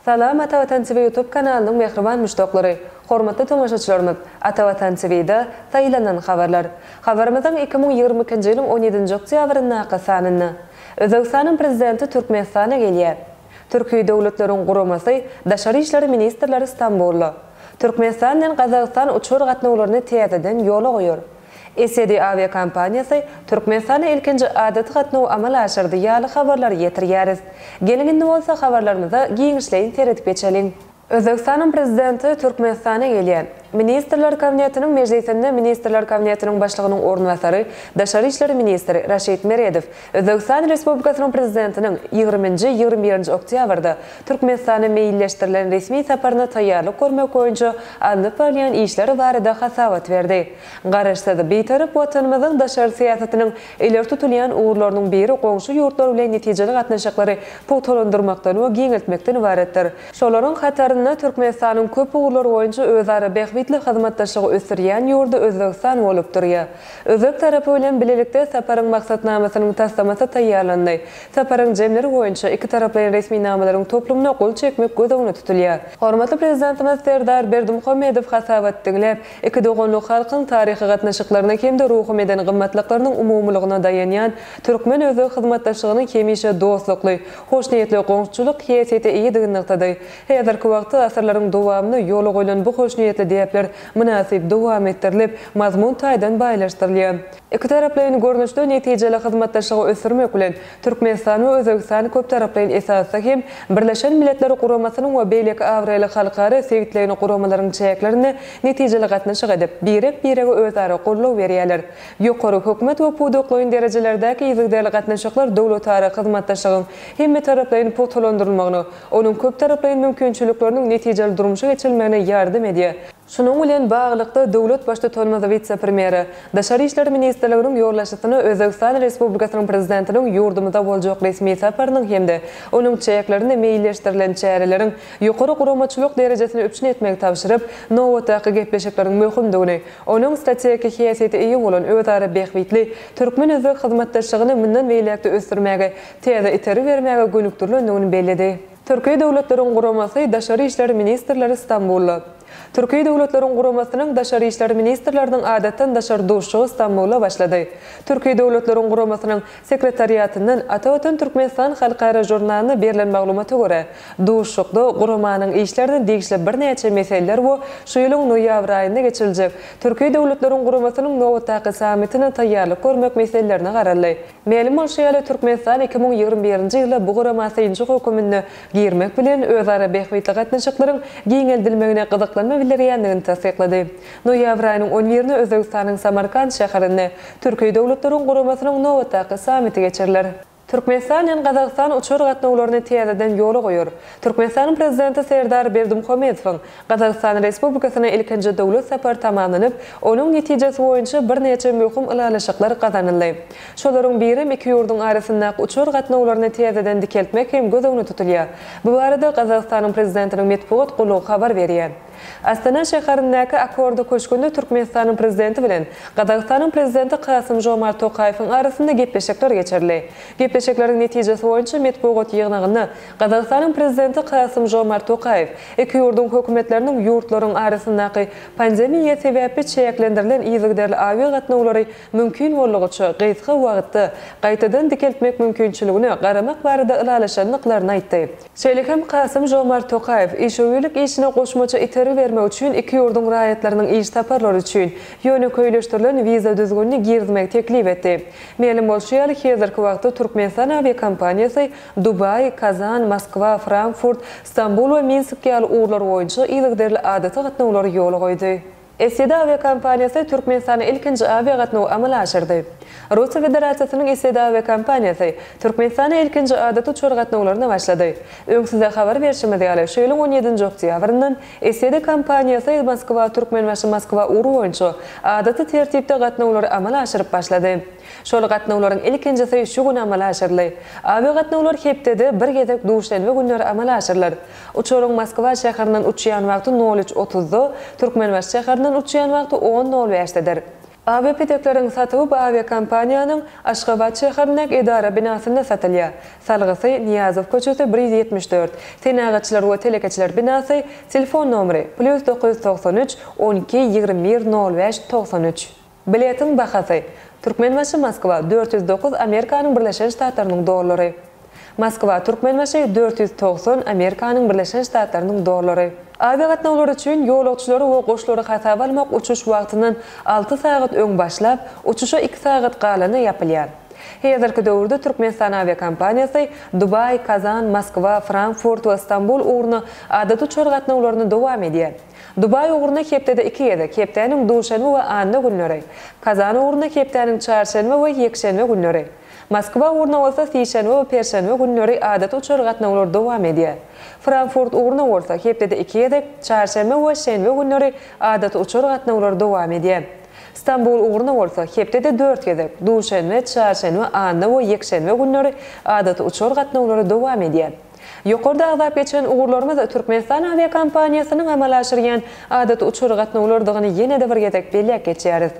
Salam Ata Watan TV YouTube kanalynyň mähriban muşdaklary, hormatly tomaşaçylarymyz! Ata Watan TV-da Saýlanan habarlar. Habarymyzyň iki müň ýigrimi ikinji ýylyň on ýedinji oktýabryndaky sanynda Özbegistanyň Prezidenti Türkmenistana gelýär. Türki Döwletleriň Guramasy daşary işler ministrleri Stambulda Türkmenistan bilen Gazagystan uçar gatnawlaryny täzeden ýola goýar. Esedi awiakompaniýasy Türkmenistana ilkinji adaty gatnawy amala aşyrdy ýaly habarlary ýetirýäris. Geliň indi bolsa habarlarymyza giňişleýin seredip geçeliň. Özbegistanyň Prezidenti Türkmenistana gelýär. Ministrler Kabinetiniň mejlisinde Ministrler Kabinetiniň Başlygynyň orunbasary, daşary işler ministri Raşid Meredow Özbegistan Respublikasynyň Prezidentiniň ýigrimi nji, ýigrimi bir nji oktýabrda Türkmenistana meýilleşdirilen resmi saparyna taýýarlyk görmek boýunça alnyp barylýan işler barada hasabat berdi. Garaşsyz, Bitarap Watanymyzyň daşary syýasatynyň ileri tutulýan ugurlarynyň biri goňşy ýurtlar bilen netijeli gatnaşyklary pugtalandyrmakdan we giňeltmekden ybaratdyr. Şolaryň hatarynda Türkmenistanyň köp ugurlar boýunça özara bähbitli hyzmatdaşlygy ösdürýän ýurdy Özbegistan bolup durýar. Özbek tarapy bilen bilelikde saparyň maksatnamasynyň taslamasy taýýarlandy. Saparyň jemleri boýunça ikitaraplaýyn resminamalaryň toplumyna gol çekmek göz öňünde tutulýar. Hormatly Prezidentimiz Serdar Berdimuhamedow hasabat diňläp, iki doganlyk halkyň taryhy gatnaşyklaryna hem-de ruhy-meden gymmatlyklarynyň umumylygyna daýanýan türkmen-özbek hyzmatdaşlygynyň hemişe dostlukly, hoşniýetli goňşuçylyk häsiýete eýedigi nygtady. Häzirki wagtda asyrlaryň dowamynda ýola goýlan bu hoşniýetli däpler mynasyp dowam etdirilip, mazmun taýdan baýlaşdyrylýar. Ikitaraplaýyn görnüşde netijeli hyzmatdaşlygy ösdürmek bilen, Türkmenistan we Özbegistan köptaraplaýyn esasda hem Birleşen Milletler Guramasynyň we beýleki abraýly halkara, sebitleýin guramalaryň çäklerinde netijeli gatnaşyk edip, birek-birege özara goldaw berýärler. Ýokary hökümet we pudaklaýyn derejelerdäki yzygiderli gatnaşyklar döwletara hyzmatdaşlygyň hemmetaraplaýyn pugtalandyrylmagyna, onuň köptaraplaýyn mümkinçilikleriniň netijeli durmuşa geçirilmegine ýardam edýär. Şunuň bilen baglylykda, döwlet Baştutanymyz wise-premýere, Daşary işler ministrliginiň ýolbaşçysyna Özbegistan Respublikasynyň Prezidentiniň ýurdumyza boljak resmi saparynyň hem-de onuň çäklerinde meýilleşdirilen çäreleriň ýokary guramaçylyk derejesini üpjün etmegi tabşyryp, nobatdaky gepleşikleriň möhümdigini, onuň strategik häsiýete eýe bolan özara bähbitli türkmen-özbek hyzmatdaşlygyny mundan beýläk-de ösdürmäge täze itergi bermäge gönükdirilendigini belledi. Türki Döwletleriň Guramasy Daşary işler ministrleri Stambulda. Türki Döwletleriň Guramasynyň Daşary işler ministrleriniň Adatdan daşary duşuşygy Stambulda başlady. Türki Döwletleriň Guramasynyň Sekretariatyndan Ata Watan Türkmenistan halkara žurnalyna berlen maglumata görä, duşuşykda Guramanyň işlerine degişli birnäçe meseleler we şu ýylyň noýabr aýynda geçiriljek Türki Döwletleriň Guramasynyň nobatdaky sammitine taýýarlyk görmek meselelerine garaldy. Mälim bolşy ýaly, Türkmenistan iki müň ýigrimi birinji ýyla bu gurama synçy höküminde girmek bilen, özara bähbitli gatnaşyklaryň giňeldilmegine gyzyklanma bildirýändigini tassyklady. Noýabr aýynyň on birinde Özbegistanyň Samarkant şäherinde Türki döwletleriň guramasynyň nobatdaky sammiti geçiriler. Türkmenistan bilen Gazagystan uçar gatnawlaryny täzeden ýola goýar. Türkmenistanyň Prezidenti Serdar Berdimuhamedowyň Gazagystan Respublikasyna ilkinji döwlet sapary tamamlanyp, onuň netijesi boýunça birnäçe möhüm ylalaşyklar gazanyldy. Şolaryň birem iki ýurduň arasyndaky uçar gatnawlaryny täzeden dikeltmek hem göz öňünde tutulýar. Bu barada Gazagystanyň Prezidentiniň metbugat gullugy habar berýär. Astana şäherindäki Akorda köşgünde Türkmenistanyň Prezidenti bilen Gazagystanyň Prezidenti Kasym-Žomart Tokaýewiň arasynda gepleşikler geçirildi. Gepleşikleriň netijesi boýunça metbugat ýygnagynda Gazagystanyň Prezidenti Kasym-Žomart Tokaýew iki ýurduň hökümetleriniň ýurtlaryň arasyndaky pandemiýa sebäpli çäklendirilen yzygiderli awiagatnawlary mümkin boldugyça gysga wagtda gaýtadan dikeltmek mümkinçiligine garamak barada ylalaşandyklaryny aýtdy. Şeýle hem Kasym-Žomart Tokaýew işewürlik işine goşmaça itergi bermek üçin iki ýurduň raýatlarynyň iş saparlary üçin ýönekeýleşdirilen wiza düzgünini girizmegi teklip etdi. Mälim bolşy ýaly, häzirki wagtda Türkmenistan awiakompaniýasy Dubaý, Kazan, Moskwa, Frankfurt, Stambul we Minsk ýaly ugurlar boýunça yzygiderli adaty gatnawlary ýola goýdy. Iseda awiakompaniýasy Türkmenistana ilkinji awiagatnawy amala aşyrdy. Russiýa Federasiýasynyň Iseda awiakompaniýasy Türkmenistana ilkinji adaty uçar gatnawlaryna başlady. Öň size habar berşimiz ýaly, şu ýylyň on ýedinji oktýabryndan Iseda kompaniýasy Moskwa-Türkmenbaşy-Moskwa ugry boýunça adaty tertipde gatnawlary amala aşyryp başlady. Şol gatnawlaryň ilkinjisi şu gün amala aşyryldy. Awiagatnawlar hepdede bir gezek duşenbe günleri amala aşyrylar. Uçaryň Moskwa şäherinden uçýan wagty nol üç otuzda, Türkmenbaşy şäherinden uçýan wagty on nol bäşdedir. Awiapidekleriň satuwy bu awiakompaniýanyň Aşgabat şäherindäki edara binasynda satylýar. Salgysy, Nyýazow köçesi bir ýüz ýetmiş dört, Senagatçylar we telekeçiler binasy, telefon nomeri, plýus dokuz ýüz togsan üç, on iki, ýigrimi bir, nol bäş, togsan üç. Biletiň bahasy, Türkmenbaşy Moskwa, dört ýüz dokuz Amerikanyň Birleşen Ştatlarynyň dollary. Moskwa, Türkmenbaşy, dört ýüz togsan Amerikanyň Birleşen Ştatlarynyň dollary. Awiagatnawlar üçin ýolagçylary we goşlary hasaba almak uçuş wagtyndan alty sagat öň başlap, uçuşa iki sagat galanda ýapylýar. Häzirki döwürde Türkmenistan awiakompaniýasy Dubaý, Kazan, Moskwa, Frankfurt we Stambul ugruna adaty uçar gatnawlaryny dowam edýär. Dubaý ugruna hepdede iki gezek, hepdäniň duşenbe we anna günleri, Kazan ugruna hepdäniň çarşenbe we ýekşenbe günleri, Moskwa ugruna bolsa sişenbe we perşenbe günleri adaty uçar gatnawlar dowam edýär. Frankfurt ugruna bolsa hepdede iki gezek, çarşenbe we şenbe günleri adaty uçar gatnawlar dowam edýär. Stambul ugruna bolsa hepdede dört gezek, duşenbe, çarşenbe, anna we ýekşenbe günleri adaty uçar gatnawlary dowam edýär. Ýokarda agzap geçen ugurlarymyz Türkmenistan awiakompaniýasynyň amala aşyrýan adaty uçar gatnawlarydygyny ýene-de bir gezek belläp geçýäris.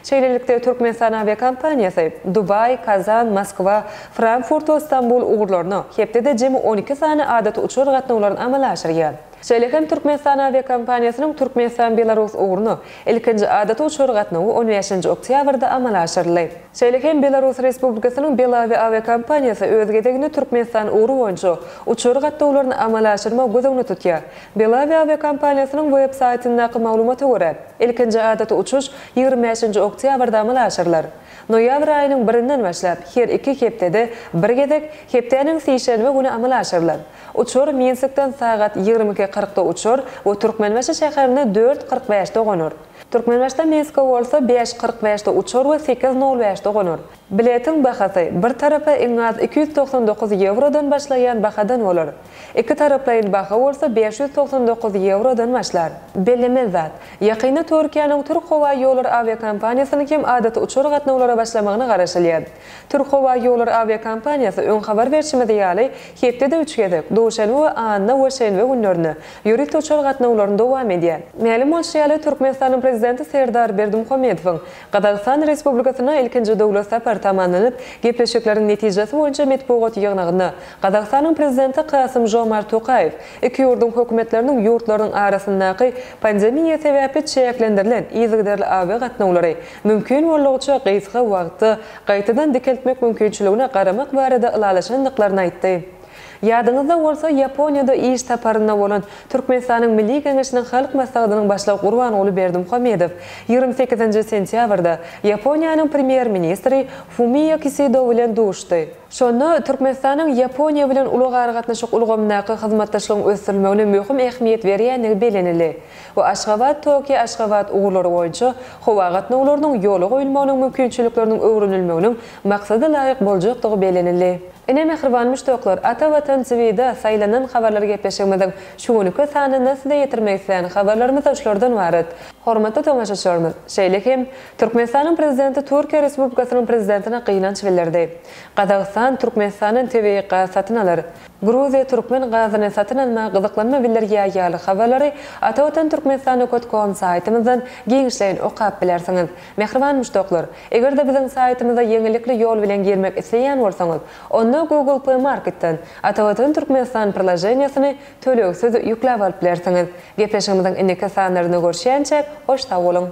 Şeýlelikde, Türkmenistan awiakompaniýasy Dubaý, Kazan, Moskwa, Frankfurt we Stambul ugurlaryna hepdede jemi on iki sany adaty uçar gatnawlaryny amala aşyrýar. Şeýle hem Türkmenistan awiakompaniýasynyň Türkmenistan-Belarus ugruna ilkinji adaty uçar gatnawy on bäşinji oktýabrda amala aşyryldy. Şeýle hem Belarus Respublikasynyň Belavia awiakompaniýasy öz gezeginde Türkmenistan ugry boýunça uçar gatnawlaryny amala aşyrmagy göz öňünde tutýar. Belavia awiakompaniýasynyň web saýtyndaky maglumata görä, ilkinji adaty uçuş ýigrimi bäşinji oktýabrda amala aşyrylar. Noýabr aýynyň birinden başlap, her iki hepdede bir gezek, hepdäniň sişenbe güni amala aşyrylar. Uçar Minskden sagat ýigrimi iki kyrkda uçar we Türkmenbaşy şäherine dört kyrk bäşde gonar. Türkmenbaşdan Minske bolsa bäş kyrk bäşde uçar we sekiz nol bäşde gonar. Biletiň bahasy bir tarapa iň az iki ýüz togsan dokuz ýewrodan başlaýan bahadan bolar. Iki taraplaýyn baha bolsa bäş ýüz togsan dokuz ýewrodan başlar. Bellenen zat, ýakynda Türkiýäniň Türk howa ýollary awiakompaniýasynyň hem adaty uçar gatnawlara başlamagyna garaşylýar. Türkhowaýollary awiakompaniýasy öň habar berşimiz ýaly, hepdede üç gezek, duşenbe we anna we şenbe günlerine, ýörite uçar gatnawlaryny dowam edýär. Mälim bolşy ýaly, Türkmenistanyň Prezidenti Serdar Berdimuhamedowyň Gazagystan Respublikasyna ilkinji döwlet sapary tamamlanyp, gepleşikleriň netijesi boýunça metbugat ýygnagynda Gazagystanyň Prezidenti Kasym-Žomart Tokaýew iki ýurduň hökümetleriniň ýurtlarynyň arasyndaky pandemiýa sebäpli çäklendirilen yzygiderli awiagatnawlary mümkin boldugyça gysga wagtda gaýtadan dikeltmek mümkinçiligine garamak barada ylalaşandyklaryny aýtdy. Ýadyňyzda bolsa, Ýaponiýada iş saparynda bolan Türkmenistanyň Milli Geňeşiniň Halk Maslahatynyň Başlygy Gurbanguly Berdimuhamedow ýigrimi sekizinji sentýabrda Ýaponiýanyň Premýer-ministri Fumio Kisido bilen duşdy. Şonda Türkmenistanyň Ýaponiýa bilen ulag-aragatnaşyk ulgamyndaky hyzmatdaşlygyň ösdürilmegine möhüm ähmiýet berýändigi bellenildi. we Aşgabat, Tokio, Aşgabat ugurlary boýunça howa gatnawlarynyň ýola goýulmagynyň mümkinçilikleriniň öwrenilmeginiň maksada laýyk boljakdygy bellenildi. Ine, mähriban muşdaklar, Ata Watan TVda saýlanan habarlar gepleşigimiziň şu günki sanynda size ýetirmek isleýän habarlarymyzda şulardan ybarat. Hormatly tomaşaçylarymyz, şeýle hem Türkmenistanyň Prezidenti Türkiýe Respublikasynyň Prezidentine gynanç bildirdi. Gazagystan Türkmenistandan tebigy gaz satyn alar. Gruziýa türkmen gazyny satyn almaga gyzyklanma bildirýär ýaly habarlary Atawatan Türkmenistan okt kom saýtymyzdan giňişleýin okap bilersiňiz. Mähriban muşdaklar! Eger-de biziň saýtymyza ýeňillikli ýol bilen girmek isleýän bolsaňyz, onda Google Play Marketden Atawatan Türkmenistan priloženiýasyny tölegsiz ýükläp alyp bilersiňiz. Gepleşigimiziň indiki sanlarynda görüşýänçäk, hoş sag boluň!